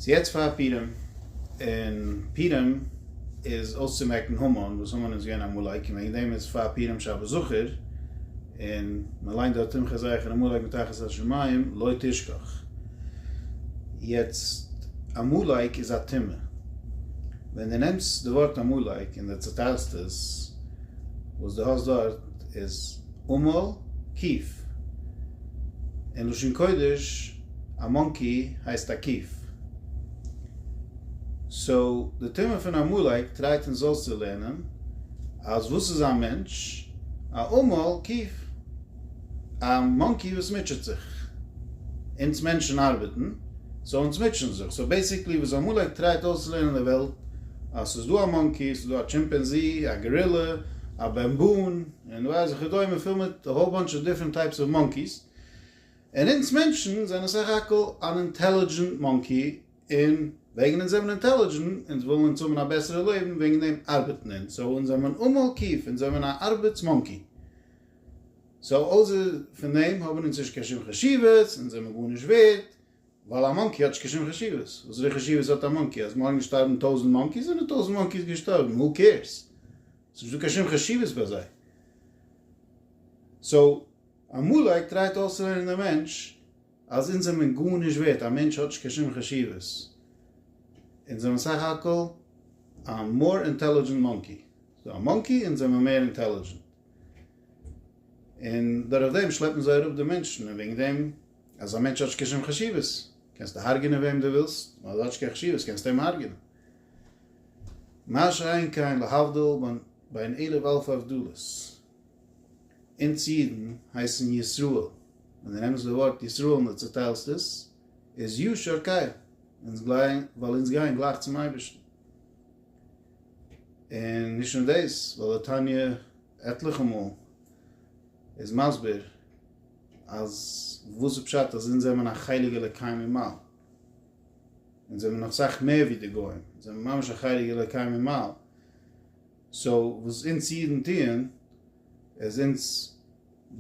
ס'איז יעצט פאר פורים, און פורים איז אויסצומעקן המן, וואס המן איז געווען עמלק, און וועגן דעם איז פאר פורים שבת זכור, און מען ליינט דארט תמחה זכר און עמלק מתחת השמים לא תשכח. יעצט, עמלק איז א טומאה. ווען דו נעמסט די ווארט עמלק און דו צעטיילסט עס, וואס דו האסט דארט איז עמל קיף, אין לשון קודש, א מאנקי הייסט א קיף. סאו די טעמע פון עמלק טרייט אונז אויס צו לערנען אז וואס איז א מענטש? א עמל קיף. א מאנקי וואס מוטשעט זיך. אונז מענטשן ארבעטן, סאו אונז מוטשען זיך. סאו בעיסיקלי וואס עמלק טרייט אויסצולערנען די וועלט אז ס'איז דא א מאנקי, ס'איז דא א טשימפענזי, א גארילע, א בעמבון, און ווייס וכדומה, פול מיט א האול באנטש אוו דיפרענט טייפס אוו מאנקיס. און אונז מענטשן זענען סך הכל אן אינטעלידזשענט מאנקי, און וועגן אונז זעמען אינטעלידזשענט, אונז ווילן אונז האבן א בעסערע לעבן, וועגן דעם ארבעטן אונז, סאו אונז זעמען עמלקיף, אונז זעמען א ארבעטס מאנקי. סאו אויסער פון דעם האבן אונז נישט קיין שום חשיבות, אונז זעמען גארנישט ווערד, ווייל א מאנקי האט נישט קיין שום חשיבות, וואסערע חשיבות האט א מאנקי, אז מארגן שטארבן טויזענט מאנקיס, זענען טויזענט מאנקיס געשטארבן, הו קעירס? ס'איז נישט דא קיין שום חשיבות ביי זיי. סאו עמלק טרייט אויסצולערנען דעם מענטש אז אונז זעמען גארנישט ווערט, א מענטש האט נישט קיין שום חשיבות, אונז זעמען סך הכל א מאר אינטעלידזשענט מאנקי, ס'דא א מאנקי אונז זעמען מער אינטעלידזשענט, און דורך דעם שלעפן זיי אראפ די מענטשן, און וועגן דעם אז א מענטש האט נישט קיין שום חשיבות, קענסטו הארגענען וועם דו ווילסט, ווייל ער האט נישט קיין חשיבות קענסטו אים הארגענען. מה שאין כן להבדיל בין אלף הבדלות. אונז אידן הייסן ישראל, ווען דו נעמסט די ווארט ישראל און דו צוטיילסט עס, איז ישר כח, אונז גייען, ווייל אונז גייען גלייך צום אייבערשטן. און נישט נאר דאס, ווייל די תניא עטליכע מאל איז מסביר אז וואס איז פשט אז אונז זעמען א חלק אלוקי ממעל, אונז זעמען נאך סאך מער ווי די גוים, אונז זעמען ממש א חלק אלוקי ממעל, סאו וואס אונז אידן טוען איז אונז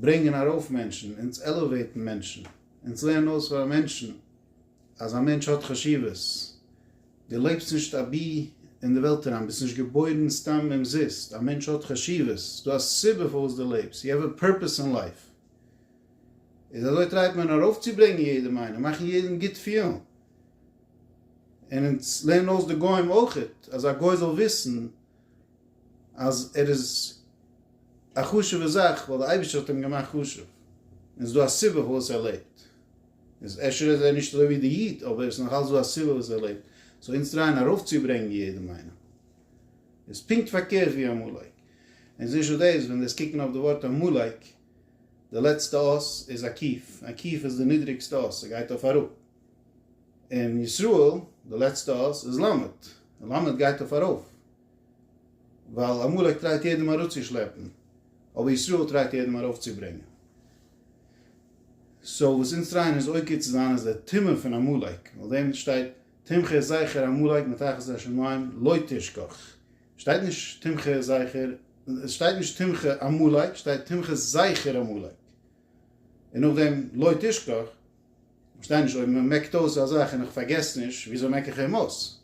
ברענגען ארויף מענטשן, אונז עלעוועיטן מענטשן, אונז לערנען אויס פאר מענטשן אז א מענטש האט חשיבות, דו לעבסט נישט אבי אין די וועלט אריין, ביסט נישט געבוירן סתם אומזיסט, א מענטש האט חשיבות, ס'דא א סיבה פארוואס דו לעבסט, יו העוו א פורפעס אין לייף. איז אזוי טרייט מען ארויפצוברענגען יעדעם איינעם, מאכן יעדעם גוט פילן. און אונז לערנען אויס די גוים אויכעט אז א גוי זאל וויסן אז ער איז א חשוב'ע זאך ווייל די אייבערשטער האט אים געמאכט חשוב און עס איז דא א סיבה פארוואס ער לעבט, איז אפשר איז ער נישט אזוי ווי די איד אבער עס איז נאכאלץ דא א סיבה וואס ער לעבט, סאו אונז טרייען ארויפצוברענגן יעדעם איינעם איז פונקט פארקערט ווי עמלק, אונז נישט דאס ווען דאס קוקן אויף די ווארט עמלק די לעצטע אות איז א קיף, א קיף איז די נידריגסטע אות ס'גייט אויף אראפ, אין ישראל די לעצטע אות איז ל', און ל' גייט אויף ארויף, ווייל עמלק טרייט יעדעם אראפצושלעפן, אבער ישראל טרייט יעדעם ארויפצוברענגען. סאו וואס אונז טרייען אונז עוקר צו זיין איז די טומאה פון עמלק, און אויף דעם שטייט תמחה זכר עמלק מתחת השמים לא תשכח. שטייט נישט תמחה זכר, עס שטייט נישט תמחה עמלק, שטייט תמחה זכר עמלק, און נאכדעם לא תשכח, כ'פארשטיי נישט, אויב מ'מעקט אויס א זאך און איך פארגעס נישט, וויאזוי מעק איך אים אויס?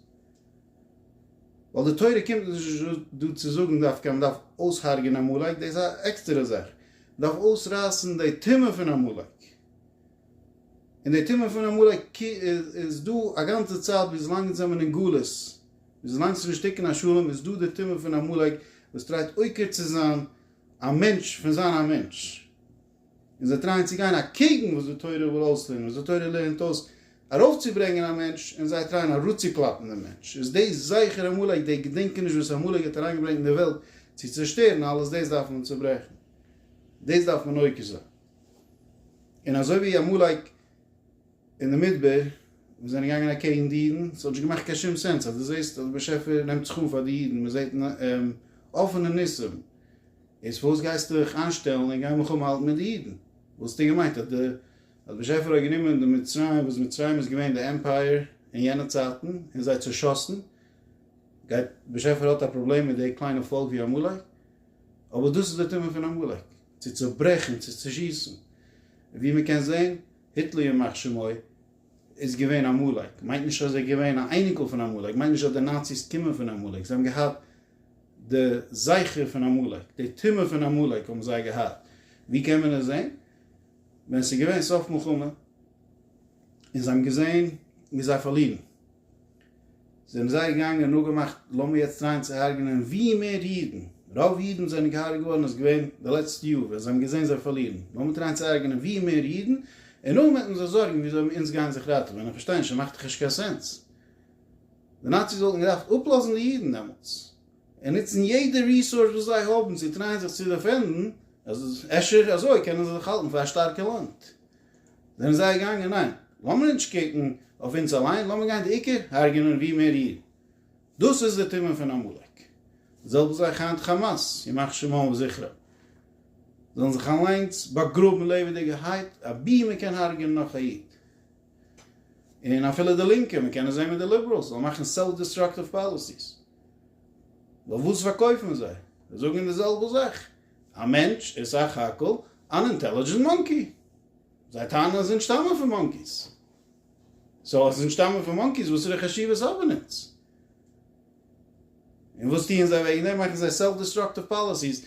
ווייל די תורה קומט נישט דא צו זאגן דווקא אז מען דארף אויס'הרג'ענען עמלק, דאס איז א עקסטערע זאך. מען דארף אויסרייסן די טומאה פון עמלק. און די טומאה פון עמלק איז דא א גאנצע צייט וויזלאנג אונז זעמען אין גלות. וויזלאנג ס'איז נישט תיקון השלם איז דא די טומאה פון עמלק וואס טרייט עוקר צו זיין א מענטש פון זיין א מענטש. און זיי טרייען צו גיין אקעגן וואס די תורה וויל אויסלערנען, וואס די תורה לערנט אויס ארויפצוברענגען א מענטש, און זיי טרייען אראצוקלאפן דעם מענטש, איז די זכר עמלק, די געדענקעניש וואס עמלק האט אריינגעברענגט אין די וועלט צו צעשטערן אלעס, דאס דארף מען צעברעכן, דאס דארף מען עוקר זיין, און אזוי ווי עמלק אין די מדבר, מיר זענען געגאנגען אקעגן די אידן, ס'האט נישט געמאכט קיין שום סענס אז דו זעסט אז דער באשעפער נעמט זיך אן פאר די אידן, מען זעט אפענע ניסים, איז פארוואס גייסטו דיך איינשטעלן און גיין מלחמה האלטן מיט די אידן? וואס האסטו געמיינט אז דער באשעפער האט גענומען די מצרים, וואס מצרים איז געווען די עמפייער אין יענע צייטן, און זיי צעשאסן, גייט דער באשעפער האט א פראבלעם מיט די קליינע פאלק ווי עמלק? אבער דאס איז די טעם פון עמלק, צו צעברעכן, צו צעשיסן, ווי מען קען זעהן, היטלער ימח שמו איז געווען א עמלק, מיינט נישט אז ער איז געווען א אייניקל פון עמלק, מיינט נישט אז די נאציס קומען פון עמלק, זיי האבן געהאט די זכר פון עמלק, די טומאה פון עמלק האבן זיי געהאט, ווי קען מען עס זעהן? ווען עס איז געווען סוף מלחמה און זיי האבן געזעהן ווי זיי פארלירן, זענען זיי געגאנגען און אפגעמאכט לאמיר יעצט טרייען צו הרג'נען ווי מער אידן, רוב אידן וואס זענען געהארג'ט געווארן איז געווען די לעצטע יאר ווען זיי האבן געזען זיי פארלירן, לאמיר טרייען צו הרג'נען ווי מער אידן און נאכדעם וועט מען זיך זארגן ווי אזוי אונז גייען זיך ראטעווען, איך פארשטיי נישט עס מאכט דאך נישט קיין סענס, די נאציס וואלטן געדארפט אפלאזן די אידן דעמאלטס און נוצן יעדע ריסאורס וואס זיי האבן צו טרייען זיך צו דעפענדן, אפשר אזוי קענען זיי זיך האלטן פאר א שטארקע לאנד. זענען זיי געגאנגען, ניין, לאמיר נישט קוקן אויף אונז אליין, לאמיר גיין די עיקר הרג'ענען ווי מער אידן. דאס איז די טעם פון עמלק. די זעלבע זאך היינט חאמאס, ימח שמם וזכרם. זאלן זיך אליינס באגראבן לעבעדיגערהייט, אבי מען קען הרג'ענען נאך א איד. און אפילו די לינקע, מען קען עס זען מיט די ליבעראלס, זאלן מאכן סעלף דיסטראקטיוו פאליסיס. ווייל וואס פארקויפן זיי? זיי זאגן די זעלבע זאך. א מענטש איז סך הכל אן אינטעלידזשענט מאנקי. זיי טענה'ן אז אונז שטאמען פון מאנקיס. סאו אז אונז שטאמען פון מאנקיס וואסערע חשיבות האבן אונז? און וואס טוען זיי וועגן דעם? מאכן זיי סעלף דיסטראקטיוו פאליסיס.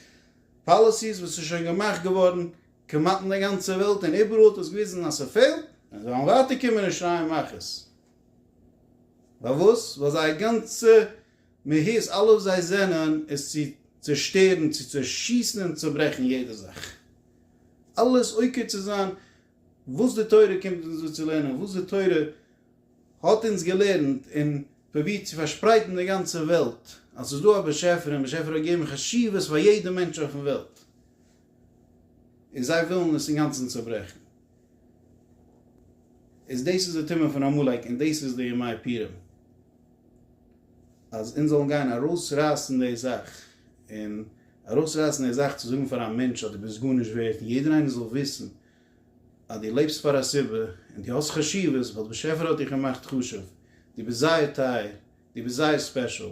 פאליסיס וואס איז שוין געמאכט געווארן כמעט אין די גאנצע וועלט און איבעראל האט עס געוויזן אז ס'פעלט. און זיי וועלן ווייטער קומען און שרייען מכות. פארוואס? ווייל זייער גאנצע מהות אלע וואס זיי זענען איז צו צושטערן, צו צעשיסן און צוברעכן יעדע זאך. אלעס עוקר צו זיין וואס די תורה קומט אונז דא צו לערנען, וואס די תורה האט אונז געלערנט און פרובירט צו פארשפרייטן די גאנצע וועלט אז ס'איז דא א באשעפער און באשעפער האט געגעבן חשיבות פאר יעדע מענטש אויפן וועלט און זיי ווילן עס אינגאנצן צוברעכן. איז דאס איז די טעמע פון עמלק און דאס איז די ימי פורים. אז אונז זאלן גיין ארויסרייסן די זאך, און ארויסרייסן די זאך צו זאגן פאר א מענטש אז דו ביסט גארנישט ווערט, און יעדער איינער זאל וויסן אז דו לעבסט פאר א סיבה, און דו האסט חשיבות, ווייל דער באשעפער האט דיך געמאכט חשוב, דו ביסט זייער טייער, דו ביסט זייער ספעשל,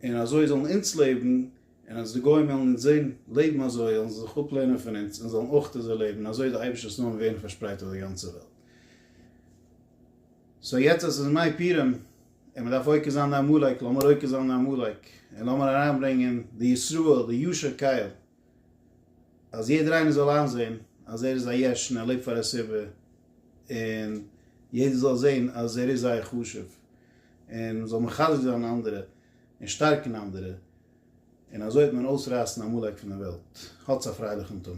און אזוי זאלן אונז לעבן, און אז די גוים וועלן אונז זען לעבן אזוי, זאלן זיי זיך אפלערנען פון אונז, און זאלן אויך אזוי לעבן, און אזוי איז די אייבערשטער'ס נאמען ווערן פארשפרייט אויף די גאנצע וועלט. סאו יעצט אז עס איז מי פירם און מען דארף עוקר זיין די עמלק, לאמיר עוקר זיין די עמלק און לאמיר אריינברענגען די ישראל, די ישר קייל, אז יעדער איינער זאל איינזען אז ער איז א יש און ער לעבט פאר א סיבה, און יעדער זאל זען אז ער איז זייער חשוב, און מען זאל מחזק זיין אנדערע און שטארקן אנדערע, און אזוי וועט מען אויסרייסן עמלק פון די וועלט. האטס א פרייליכן תמיד.